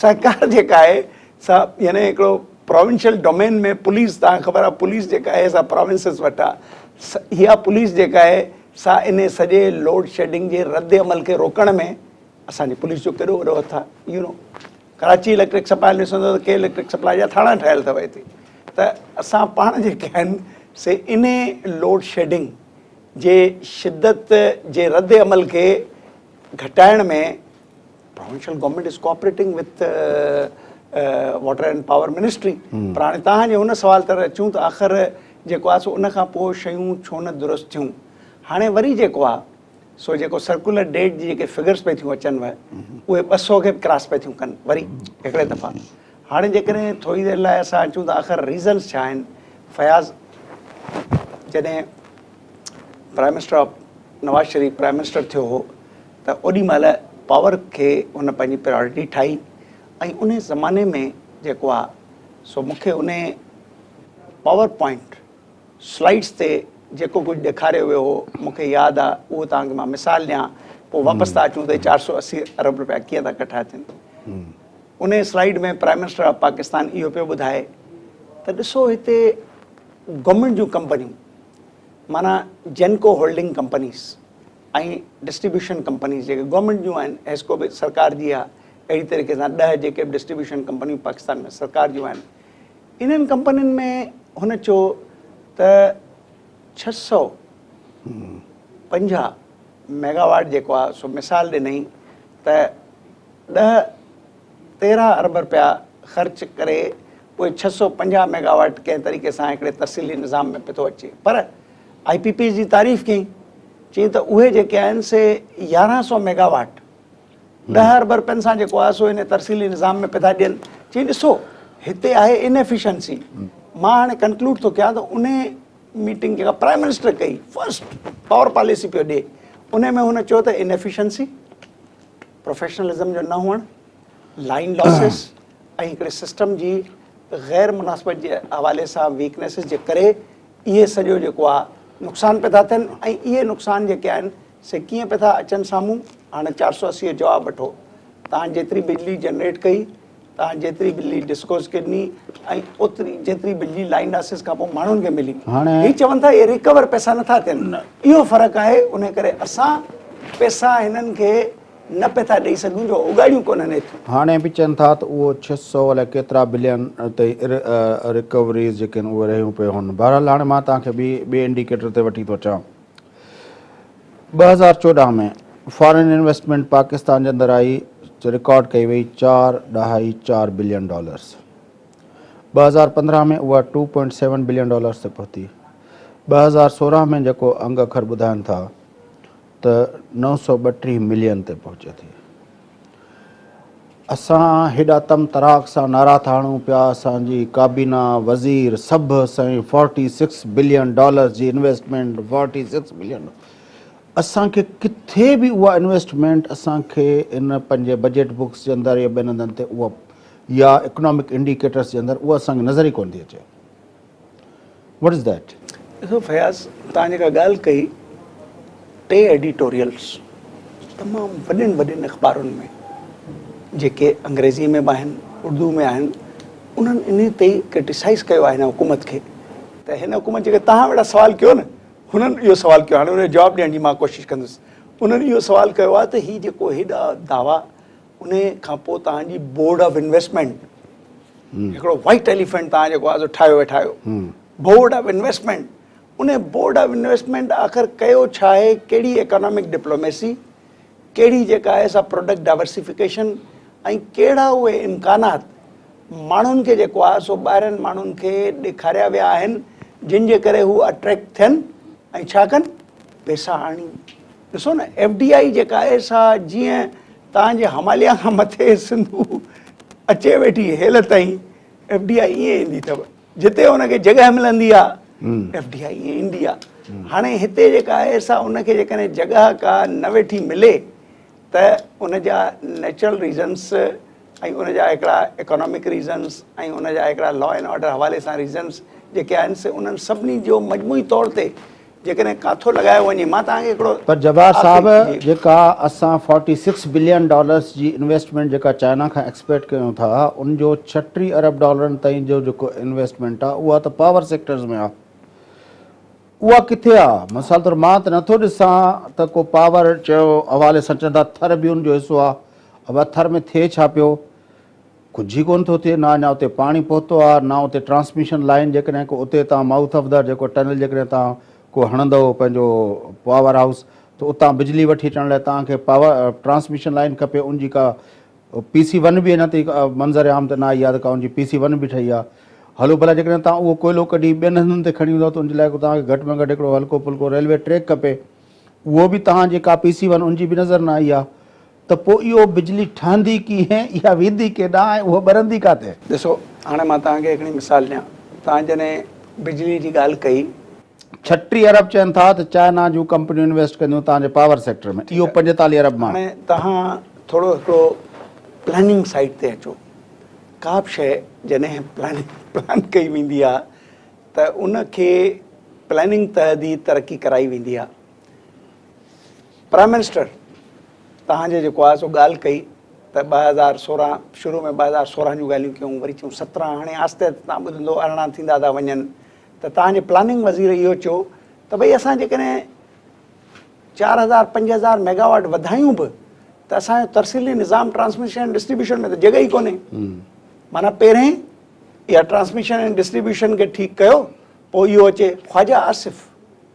سرڪار جيڪا آهي سا يعني هڪڙو پراونشل ڊومين ۾ پوليس تان خبر آهي پوليس جيڪا آهي سا پراونسز وٽ آهي اها پوليس جيڪا آهي سا ان سڄي لوڊ شيڊنگ جي رد عمل کي روڪڻ ۾ اسان جي پوليس جو ڪيڏو وڏو هٿ آهي you know Karachi electric supply ڏسندو ته ڪي اليڪٽرڪ سپلاء جا ٿاڻا ٺهيل اٿو هتي ته اسان پاڻ جيڪي آهن سي ان لوڊ شيڊنگ جي شدت جي رد عمل کي گهٽائڻ ۾ provincial government is cooperating with water and power ministry پر هاڻي توهان جي هن سوال تر اچون ته آخر جيڪو آهي سو ان کان پوء شيون ڇو نه درست ٿيون هاڻي وري جيڪو آهي سو جيڪو سرڪولر ڊيٽ جي جيڪي فگرس پئي ٿيون اچن وهي اهي ٻه سو کي به ڪراس پئي ٿيون ڪن وري هڪڙي دفعا هاڻي جيڪڏهن ٿوري دير لاء اسان اچون ته آخر ريزنس ڇا آهن فياض جڏهن prime minister of Nawaz Sharif prime minister ٿيو هو ته اوڏي مهل پاور کي هن پنهنجي پريارٽي ٺاهي ۽ ان زماني ۾ جيڪو آهي سو مون کي ان پاور پوائنٽ سلائيڊس تي جيڪو ڪجهه ڏيکاريو ويو هو مون کي ياد آهي اهو توهان کي مان مثال ڏيان پوء واپس ٿا اچون ته هي چار سؤ اسي ارب روپيا ڪيئن ٿا ڪٺا ٿين ان slide ۾ prime minister of Pakistan اهو پيو ٻڌائي ته ڏسو هتي گورنمينٽ جون ڪمپنيون معنيٰ GENCO holding companies ۽ distribution companies جيڪي گورنمينٽ جون آهن حيسڪو به سرڪار جي آهي اهڙي طريقي سان ڏهه جيڪي به ڊسٽريبيوشن ڪمپنيون پاڪستان ۾ سرڪار جون آهن انهن ڪمپنين ۾ هن چيو ته ڇهه سؤ پنجاهه ميگاواٽ جيڪو آهي سو مثال ڏنئي ته ڏهه تيرهن ارب رپيا خرچ ڪري اهي ڇهه سؤ پنجاهه ميگا واٽ ڪنهن طريقي سان هڪڙي ترسيلي نظام ۾ پيو اچي پر آئي پي پيز جي تعريف ڪيائين چيائين ته اهي جيڪي آهن سي يارهن سؤ ميگا واٽ ڏهه ارب رپين سان جيڪو آهي سو ان ترسيلي نظام ۾ پيو ٿا ڏين چيائين ڏسو هتي آهي ان ايفيشنسي مان هاڻي ڪنڪلوڊ ٿو ڪيان ته ان ميٽنگ جيڪا پرائم منسٽر ڪئي فرسٽ پاور پاليسي پيو ڏي ان ۾ هن چيو ته ان ايفيشنسي پروفيشنلزم جو نه هئڻ، لائين لاسز ۽ هڪڙي سسٽم جي غير مناسبت جي حوالي سان ويڪنيسز جي ڪري اهي سڄو جيڪو آهي نقصان پئي ٿا ٿين ۽ اهي نقصان جيڪي آهن سي ڪيئن پئي ٿا اچن سامهون هاڻي چار سؤ اسي جو جواب وٺو توهان جيتري بجلي جنريٽ ڪئي تان جيتري بجلي ڊسڪوز کي ڏني ۽ اوتري جيتري بجلي لائن لاسز کان پوء ماڻهن کي ملي هي چون ٿا اهي ريڪور پئسا نٿا ٿين اهو فرق آهي ان ڪري اسان پئسا هنن کي نه پئي ٿا ڏئي سگهون جو اوڳاڙيون ڪونهن ايتريون. هاڻي به چون ٿا ته اهو ڇهه سؤ الائي ڪيترا بلين تي ريڪوريز جيڪي آهن اهي رهيون پيون هن بهرحال هاڻي مان توهان کي ٻي ٻئي انڊيڪيٽر تي وٺي ٿو اچان. ٻه هزار چوڏهن ۾ فارن انويسٽمينٽ پاڪستان جي اندر آئي جو رڪارڊ ڪئي وئي چار ڏهائي چار بلين ڊالرز ٻه هزار پندرهن ۾ اها two point seven billion dollars تي پهتي ٻه هزار سورهن ۾ جيڪو انگ اکر ٻڌائن ٿا ته نو سؤ ٻٽيهه ملين تي پهچي ٿي اسان هيڏا تم تراڪ سان نعرا ٿا هڻون پيا، اسان جي ڪابينا، وزير سڀ سائين فورٽي سڪس بلين ڊالرز جي انويسٽمينٽ فورٽي سڪس بلين اسان کي ڪٿي به اها انويسٽمينٽ اسان کي ان پنهنجي بجيٽ بڪس جي اندر يا ٻين هنڌن تي اها يا اڪنامڪ انڊيڪيٽرز جي اندر اها اسان کي نظر ئي ڪونه ٿي اچي. What is that? ڏسو فياض توهان جيڪا ڳالهه ڪئي ٽي ايڊيٽوريلز تمام وڏين وڏين اخبارن ۾ جيڪي انگريزي ۾ به آهن اردو ۾ آهن انهن انهي تي ڪرٽيسائز ڪيو آهي هن حڪومت کي ته هن حڪومت جيڪي توهان وڙا سوال ڪيو نه هنن اهو سوال ڪيو هاڻي ان جو جواب ڏيڻ جي مان ڪوشش ڪندس انهن اهو سوال ڪيو آهي ته هي جيڪو هيڏا دعوا ان کان پوء توهان جي بورڊ آف انويسٽمينٽ هڪڙو وائٽ ايليفنٽ توهان جيڪو آهي سو ٺاهيو ويٺا آهيو بورڊ آف انويسٽمينٽ ان بورڊ آف انويسٽمينٽ آخر ڪيو ڇا آهي ڪهڙي ايڪانامڪ ڊپلوميسي ڪهڙي جيڪا آهي سا پروڊڪٽ ڊائورسيفڪيشن ۽ ڪهڙا اهي امڪانات ماڻهن کي جيڪو آهي سو ٻاهرين ماڻهن کي ڏيکاريا ويا آهن جن جي ڪري هو اٽريڪٽ ٿين ۽ ڇا ڪن پيسا آڻين ڏسو نه ايف ڊي آئي جيڪا آهي سا جيئن تان جي هماليا کان مٿي سنڌو اچي ويٺي هيل تائين ايف ڊي آئي ائين ايندي اٿو جتي ان کي جڳهه ملندي آ ايف ڊي آئي ائين ايندي آ هاڻي هتي جيڪا آهي سا ان کي جيڪڏهن جڳهه ڪا نه ويٺي ملي ته ان جا نيچرل ريزنس ۽ ان جا هڪڙا ايڪانامڪ ريزنس ۽ ان جا هڪڙا لا اينڊ آرڊر حوالي سان ريزنس جيڪي آهن سي انهن سڀني جو مجموعي طور تي جيڪڏهن ڪاٿو لڳايو وڃي مان توهان کي هڪڙو. پر جبار صاحب جيڪا اسان فورٽي سڪس بلين ڊالرس جي انويسٽمينٽ جيڪا چائنا کان ايڪسپيڪٽ ڪيون ٿا ان جو ڇهه ٽي ارب ڊالرن تائين جو جيڪو انويسٽمينٽ آ اها ته پاور سيڪٽرز ۾ آ اها ڪٿي آ مثال طور مان ته نٿو ڏسان ته ڪو پاور چيو حوالي سان چون ٿا ٿر به ان جو حصو آ اڀا ٿر ۾ ٿئي ڇا پيو. ڪجهه ئي ڪونه ٿو ٿئي نه اڃا اتي پاڻي پهتو آهي نه اتي ٽرانسميشن لائين جيڪڏهن ڪو اتي تان مائوٿ آف دا جيڪو ٽنل جيڪڏهن تان ڪو هڻندئو پنهنجو پاور هائوس ته اتان بجلي وٺي اچڻ لاء تان کي پاور ٽرانسميشن لائين کپي ان جي ڪا پي سي ون به اڃا تائين منظر عام ته نه آئي آهي ته ڪا ان جي پي سي ون به ٺهي آهي هلو ڀلا جيڪڏهن تان اهو ڪوئلو ڪڍي ٻين هنڌن تي کڻي ويندئو ته ان جي لاء تان کي گهٽ ۾ گهٽ هڪڙو هلڪو ڦلڪو ريلوي ٽريڪ کپي اهو به تان جي ڪا پي سي ون ان جي به نظر نه آئي آهي ته پوء اهو بجلي ٺهندي ڪيئن، اها ويندي ڪيڏانهن ۽ اهو ٻرندي ڪاٿي؟ ڏسو، هاڻي مان توهان کي هڪڙي مثال ڏيان. توهان جڏهن بجلي جي ڳالهه ڪئي. ڇٽيهه ارب چين ٿا ته چائنا جون ڪمپنيون انويسٽ ڪنديون توهان جي پاور سيڪٽر ۾، اهو پنجيتاليهه ارب مان. هاڻي توهان ٿورو هڪڙو پلاننگ سائيڊ تي اچو. ڪا به شيء جڏهن پلاننگ پلان ڪئي ويندي آهي ته ان کي پلاننگ تحت ئي ترقي ڪرائي ويندي آهي. پرائم منسٽر توهان جي جيڪو آهي سو ڳالهه ڪئي ته ٻه هزار سورهن شروع ۾ ٻه هزار سورهن جون ڳالهيون ڪيون وري ٿيون سترهن هاڻي آهستي آهستي تان ٻڌندو ارڙهن ٿيندا ٿا وڃن ته توهان جي پلاننگ وزير اهو چيو ته ڀئي اسان جيڪڏهن چار هزار پنج هزار ميگاواٽ وڌايون به ته اسان جو ترسيلي نظام ٽرانسميشن ۽ ڊسٽريبيوشن ۾ ته جڳهه ئي ڪونهي معنيٰ پهرين اها ٽرانسميشن ۽ ڊسٽريبيوشن کي ٺيڪ ڪيو پوء اهو اچي خواجا آصف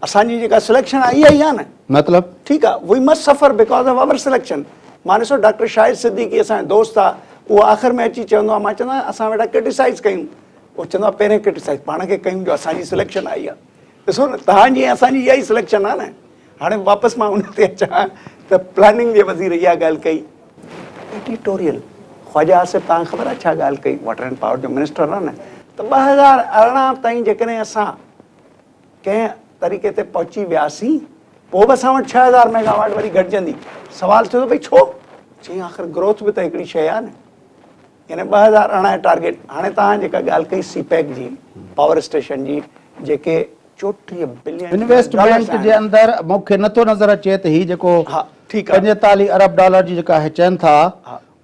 اسان جي جيڪا سليڪشن آهي اها ئي آهي نه. مطلب؟ ٺيڪ آهي we must suffer because of our selection مان ڏسو ڊاڪٽر شاهد صديقي اسان جو دوست آهي اهو آخر ۾ اچي چوندو آهي مان چوندو آهيان اسان ويٺا ڪرٽيسائز ڪيون اهو چوندو آهي پهرين ڪرٽيسائز پاڻ کي ڪيون جو اسان جي سليڪشن آئي آهي ڏسو نه توهان جي ۽ اسان جي اها ئي سليڪشن آهي نه هاڻي واپس مان ان تي اچان ته پلاننگ جي وزير اها ڳالهه ڪئي ايڊيٽوريل خواجه آصف توهان کي خبر آهي ڇا ڳالهه ڪئي واٽر اينڊ پاور جو منسٽر آهي نه ته ٻه هزار ارڙهن تائين جيڪڏهن اسان ڪنهن طريقي تي پهچي وياسين، پوء به اسان وٽ ڇهه هزار ميگا واٽ وري گهٽجندي. سوال ٿيو ته ڀئي ڇو؟ چيائين آخر گروٿ به ته هڪڙي شيء آهي نه. يعني ٻه هزار ارڙهن جو ٽارگيٽ، هاڻي توهان جيڪا ڳالهه ڪئي سي پيڪ جي، پاور اسٽيشن جي، جيڪي چوٽيهه بلين ڊالرز آهن. انويسٽمينٽ جي اندر مون کي نٿو نظر اچي ته هي جيڪو پنجيتاليهه ارب ڊالر جي جيڪا هي چين ٿا،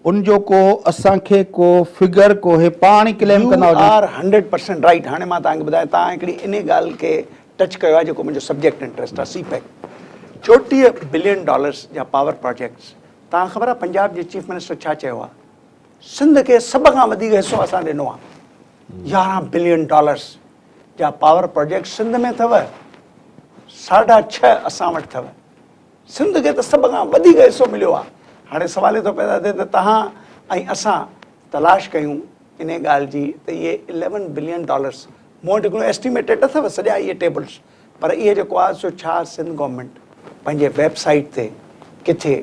ان جو ڪو اسان کي ڪو فگر ڪوهي پاڻ ئي ڪليم ڪندا هجون. You are hundred percent right هاڻي مان توهان کي ٻڌايان توهان هڪڙي انهي ڳالهه کي ٽچ ڪيو آهي جيڪو منهنجو سبجيڪٽ انٽريسٽ آهي سي پيڪ چوٽيهه بلين ڊالرس جا پاور پراجيڪٽس توهان کي خبر آهي پنجاب جي چيف منسٽر ڇا چيو آهي سنڌ کي سڀ کان وڌيڪ حصو اسان ڏنو آهي يارهن بلين ڊالرس جا پاور پراجيڪٽ سنڌ ۾ اٿو ساڍا ڇهه اسان وٽ اٿو سنڌ کي ته سڀ کان وڌيڪ حصو مليو آهي، هاڻي سوال اهي ٿو پيدا ٿئي ته توهان ۽ اسان تلاش ڪيون انهي ڳالهه جي ته اهي اليون بلين ڊالرس، مون وٽ هڪڙو اسٽيميٽيٽ اٿو سڄا اهي ٽيبلس، پر اهي جيڪو آهي سو ڇا سنڌ گورنمينٽ پنهنجي ويب سائيٽ تي ڪٿي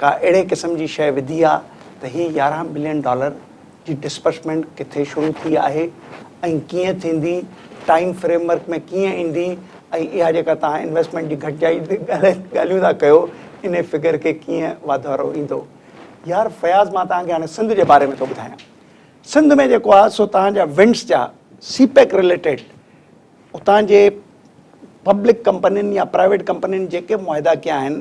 ڪا اهڙي قسم جي شيء وڌي آهي ته هي يارهن بلين ڊالر، جي ڊسبرسمينٽ ڪٿي شروع ٿي آهي ۽ ڪيئن ٿيندي، ٽائيم فريم ورڪ ۾ ڪيئن ايندي ۽ اها جيڪا توهان انويسٽمينٽ جي گهٽجائي تي ڳالهيون ٿا ڪيو انهي فگر کي ڪيئن واڌارو ايندو. يار فياض مان توهان کي هاڻي سنڌ جي باري ۾ ٿو ٻڌايان سنڌ ۾ جيڪو آهي سو توهان جا ونڊس جا سي پيڪ رليٽيڊ اتان جي پبلڪ ڪمپنين يا پرائيويٽ ڪمپنين جيڪي معاهدا ڪيا آهن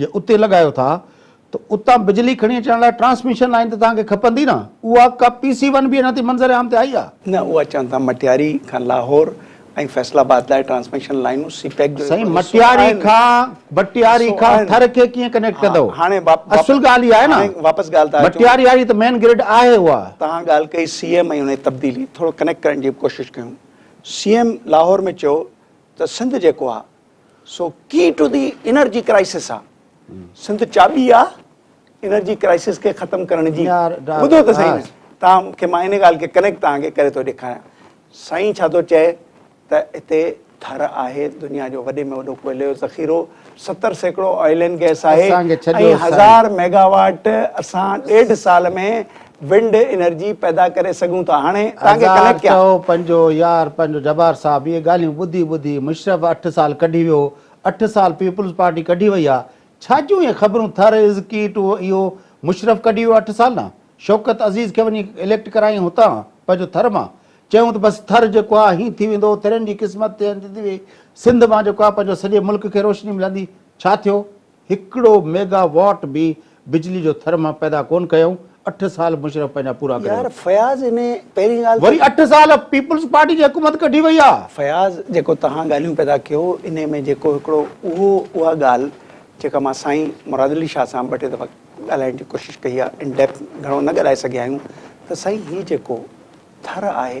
جي اتي لڳايو ٿا ته اتان بجلي کڻي اچڻ لاء ٽرانسميشن لائين ته توهان کي کپندي نه، اها ڪا پي سي ون به اڃا تائين منظر عام تي آئي آ؟ نه اها چون ٿا مٽياري کان لاهور ۽ فيصل آباد لاء ٽرانسميشن لائينون سي پيڪ جو سائين مٽياري کان مٽياري کان ٿر کي ڪيئن ڪنيڪٽ ڪندو اصل ڳالهه اها آهي نه واپس ڳالهه ته مٽياري واري ته مين گرڊ آهي اها توهان ڳالهه ڪئي سي ايم ۽ ان جي تبديلي ٿورو ڪنيڪٽ ڪرڻ جي به ڪوشش ڪيون سي ايم لاهور ۾ چيو ته سنڌ جيڪو آهي سو key to the energy crisis آ سنڌ چاٻي آ انرجي ڪرائسس کي ختم ڪرڻ جي ٻڌو ته سائين تان کي مان ان ڳالهه کي ڪنيڪٽ تان کي ڪري ٿو ڏيکاريان سائين ڇا ٿو چئي ته هتي ٿر آهي دنيا جو وڏي ۾ وڏو ڪوئلي جو ذخيرو ستر سيڪڙو آئل اينڊ گيس آهي ۽ هزار ميگا واٽ اسان ڏيڍ سال ۾ ونڊ انرجي پيدا ڪري سگهون ٿا هاڻي توهان کي ڪنيڪٽ ڪيان. هزار چئو پنجو يار پنجو جبار صاحب اهي ڳالهيون ٻڌي ٻڌي مشرف اٺ سال ڪڍي ويو اٺ سال پيپلز پارٽي ڪڍي وئي آ ڇا جون اهي خبرون ٿر از ڪي ٽو اهو مشرف ڪڍي ويو اٺ سال نه شوڪت عزيز کي وڃي اليڪٽ ڪرايائين هتان پنهنجو ٿر مان چيون ته بس ٿر جيڪو آ هين ٿي ويندو ٿرين جي قسمت ٿي وئي سنڌ مان جيڪو آ پنهنجو سڄي ملڪ کي روشني ملندي ڇا ٿيو هڪڙو ميگا واٽ به بجلي جو ٿر مان پيدا ڪون ڪيائون، اٺ سال مشرف پنهنجا پورا ڪري يار ورتا. فياض انهي پهرين ڳالهه ته. وري اٺ سال پيپلز پارٽي جي حڪومت ڪڍي وئي آ. فياض جيڪو توهان ڳالهيون پيدا ڪيو انهي ۾ جيڪو هڪڙو اهو اها ڳالهه جيڪا مان سائين مراد علي شاهه سان ٻه ٽي دفعا ڳالهائڻ جي ڪوشش ڪئي آ ان ڊيپٿ گهڻو نه ڳالهائي سگهيا آهيون ته سائين هي جيڪو ٿر آهي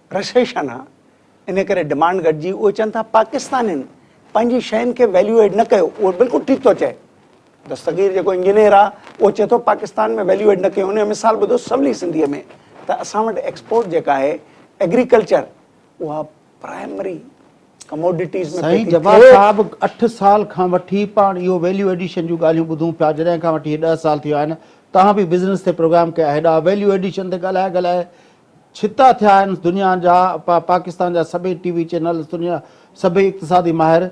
رسيشن آ ان ڪري ڊمانڊ گهٽجي اهي چون ٿا پاڪستانين پنهنجي شين کي ويليو ايڊ نه ڪيو اهو بلڪل ٺيڪ ٿو چئي دستگير جيڪو انجنيئر آ اهو چئي ٿو پاڪستان ۾ ويليو ايڊ نه ڪيو ان جو مثال ٻڌو سولي سنڌي ۾ ته اسان وٽ ايڪسپورٽ جيڪا آهي ايگريڪلچر اها پرائمري ڪموڊيٽيز ۾ سائين جبار صاحب اٺ سال کان وٺي پاڻ اهو ويليو ايڊيشن جون ڳالهيون ٻڌون پيا جڏهن کان وٺي ڏهه سال ٿي ويا آهن توهان به بزنس تي پروگرام ڪيا هيڏا ويليو ايڊيشن تي ڳالهائي ڳالهائي ڇتا ٿيا آهن دنيا جا پا پاڪستان جا سڀئي ٽي وي چينلز دنيا سڀئي اقتصادي ماهر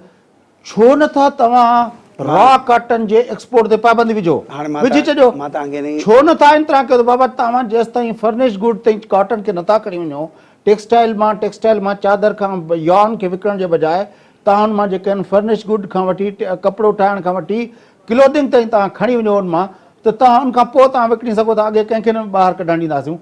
ڇو نه ٿا توهان را ڪاٽن جي ايڪسپورٽ تي پابندي وجهو وجهي ڇڏيو ڇو نه ٿا ان طرح ڪيو ته بابا توهان جيستائين فرنش گوڊ تي ڪاٽن کي نه ٿا کڻي وڃو ٽيڪسٽائل مان ٽيڪسٽائل مان چادر کان يارن کي وڪڻڻ جي بجاء توهان ان مان جيڪي آهن فرنش گوڊ کان وٺي ڪپڙو ٺاهڻ کان وٺي ڪلوڌنگ تائين توهان کڻي وڃو ان مان ته توهان ان کان پوء توهان وڪڻي سگهو ٿا اڳي ڪنهن کي نه ٻاهر ڪڍڻ ڏينداسيون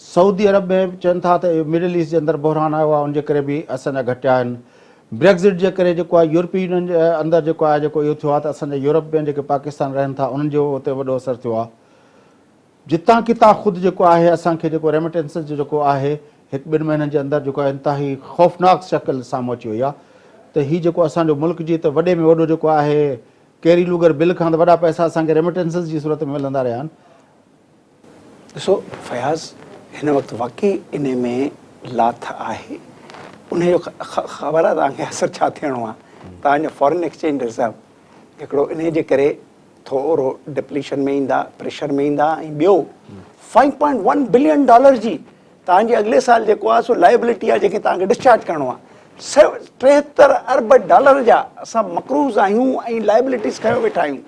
سعودي عرب ۾ چون ٿا ته مڊل ايسٽ جي اندر بحران آيو آهي ان جي ڪري به اسان جا گهٽيا آهن بريگزٽ جي ڪري جيڪو آهي يورپي يونين جي اندر جيڪو آهي جيڪو اهو ٿيو آهي ته اسان جا يورپ ۾ جيڪي پاڪستان رهن ٿا انهن جو اتي وڏو اثر ٿيو آهي جتان ڪتان خود جيڪو آهي اسان کي جيڪو ريميٽنسز جو جيڪو آهي هڪ ٻن مهينن جي اندر جيڪو انتهائي خوفناڪ شڪل سامهون اچي وئي آهي ته هي جيڪو اسان جو ملڪ جي ته وڏي ۾ وڏو جيڪو آهي ڪيري لوگر بل کان ته وڏا پئسا اسان کي ريميٽنسز جي صورت ۾ ملندا رهيا آهن ڏسو فياض هن وقت واقعي انهي ۾ لاٿ آهي انهي جو خبر آهي توهان کي اثر ڇا ٿيڻو آهي توهان جو فارين ايڪسچينج رزرو هڪڙو انهي جي ڪري ٿورو ڊپليشن ۾ ايندا پريشر ۾ ايندا ۽ ٻيو five point one billion dollar جي توهان جي اڳلي سال جيڪو آهي سو لائبلٽي آهي جيڪي توهان کي ڊسچارج ڪرڻو آهي. سيون ٽيهتر ارب ڊالر جا اسان مقروض آهيون ۽ لائبلٽيز کنيو ويٺا آهيون.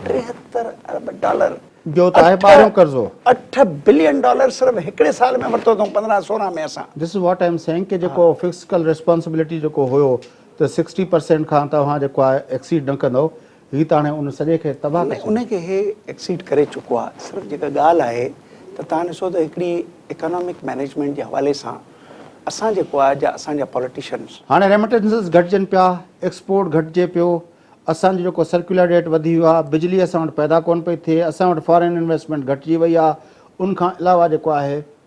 ٽيهتر ارب ڊالر. جو ته آهي ٻارهيون قرضو. اٺ بلين ڊالر صرف هڪڙي سال ۾ ورتو اٿئون پندرهن سورهن ۾ اسان. This is what I am saying ڪي جيڪو فسڪل ريسپانسبلٽي جيڪو هيو ته سڪسٽي پرسينٽ کان توهان جيڪو آهي ايڪسيڊ نه ڪندئو هي ته هاڻي ان سڄي کي تباهه ڪري ڇڏيندو. ان کي هي ايڪسيڊ ڪري چڪو آهي. صرف جيڪا ڳالهه آهي ته توهان ڏسو ته هڪڙي اڪانامڪ مينيجمينٽ جي حوالي سان اسان جيڪو آهي جا اسان جا پوليٽيشنز. هاڻي ريمٽنسز گهٽجن پيا، ايڪسپورٽ گهٽجي پيو، اسان جو جيڪو سرڪيولر ڊيٽ وڌي ويو آهي، بجلي اسان وٽ پيدا ڪونه پئي ٿئي، اسان وٽ فارين انويسٽمينٽ گهٽجي وئي آهي، ان کان علاوه جيڪو آهي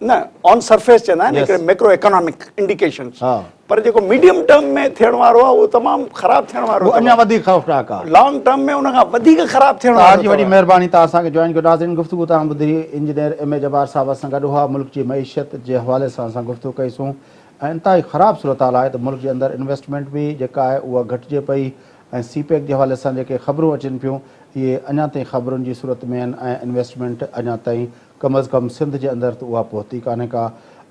نه آن سرفيس چوندا آهن هڪڙي ميڪرو ايڪانامڪ انڊيڪيشنز پر جيڪو ميڊيم ٽرم ۾ ٿيڻ وارو آهي اهو تمام خراب ٿيڻ وارو آهي اهو اڃا وڌيڪ خوفناڪ آهي لانگ ٽرم ۾ ان کان وڌيڪ خراب ٿيڻ وارو آهي توهان جي وڏي مهرباني توهان اسان کي جوائن ڪيو ناظرين گفتگو توهان ٻڌي engineer M A Jabbar sahib اسان گڏ هئا ملڪ جي معيشت جي حوالي سان اسان گفتگو ڪئي سون ۽ انتهائي خراب صورتحال آهي ته ملڪ جي اندر انويسٽمينٽ به جيڪا آهي اها گهٽجي پئي ۽ سي پيڪ جي حوالي سان جيڪي خبرون اچن پيون اهي اڃا تائين خبرن جي صورت ۾ آهن ۽ انويسٽمينٽ اڃا تائين ڪم از ڪم سنڌ جي اندر ته اها پهتي ڪانهي ڪا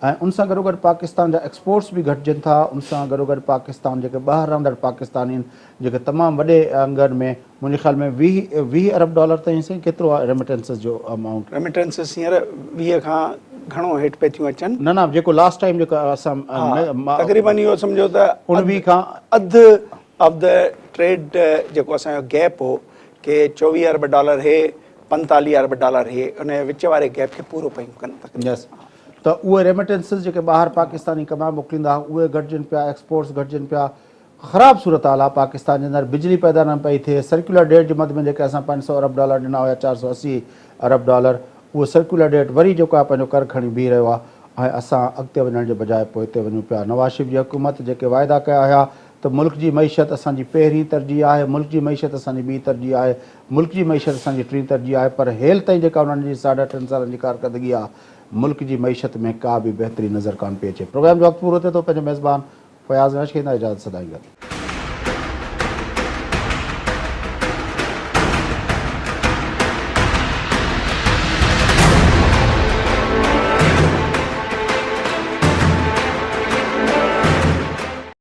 ۽ ان سان گڏوگڏ پاڪستان جا ايڪسپورٽس به گهٽجن ٿا ان سان گڏوگڏ پاڪستان جيڪي ٻاهر رهندڙ پاڪستانين جيڪي تمام وڏي انگن ۾ منهنجي خيال ۾ ويهه ويهه ارب ڊالر تائين سائين ڪيترو آهي ريمٽينسز جو امائونٽ. ريمٽينسز هينئر ويهه کان گهڻو هيٺ پئي ٿيون اچن. نه نه جيڪو لاس ٽائيم جيڪو اسان ها تقريبن اهو سمجهو ته اڻويهه کان اڌ آف دي ٽريڊ جيڪو اسان جو گيپ هو ڪي چوويهه ارب ڊالر هي پنجتاليهه ارب ڊالر اهي ان جي وچ واري گيپ کي پورو پيون ڪن يس ته اهي ريمٽنسز جيڪي ٻاهر پاڪستاني ڪمائي موڪليندا اهي گهٽجن پيا ايڪسپورٽس گهٽجن پيا خراب صورتحال آهي پاڪستان جي اندر بجلي پيدا نه پئي ٿئي سرڪيولر ڊيٽ جي مد ۾ جيڪي اسان پنج سؤ ارب ڊالر ڏنا هيا چار سؤ اسي ارب ڊالر اهو سرڪيولر ڊيٽ وري جيڪو آهي پنهنجو ڪر کڻي بيهي رهيو آهي ۽ اسان اڳتي وڃڻ جي بجاء پوئتي وڃون پيا نواز شريف جي حڪومت جيڪي واعدا ڪيا هيا ته ملڪ جي معيشت اسان جي پهرين ترجيح آهي ملڪ جي معيشت اسان جي ٻي ترجيح آهي ملڪ جي معيشت اسان جي ٽين ترجيح آهي پر هيل تائين جيڪا انهن جي ساڍا ٽن سالن جي ڪارڪردگي آ ملڪ جي معيشت ۾ ڪا به بهتري نظر ڪانه پئي اچي پروگرام جو وقت پورو ٿئي ٿو پنهنجو ميزبان فياض نهش کي هن اجازت سدائين گڏ.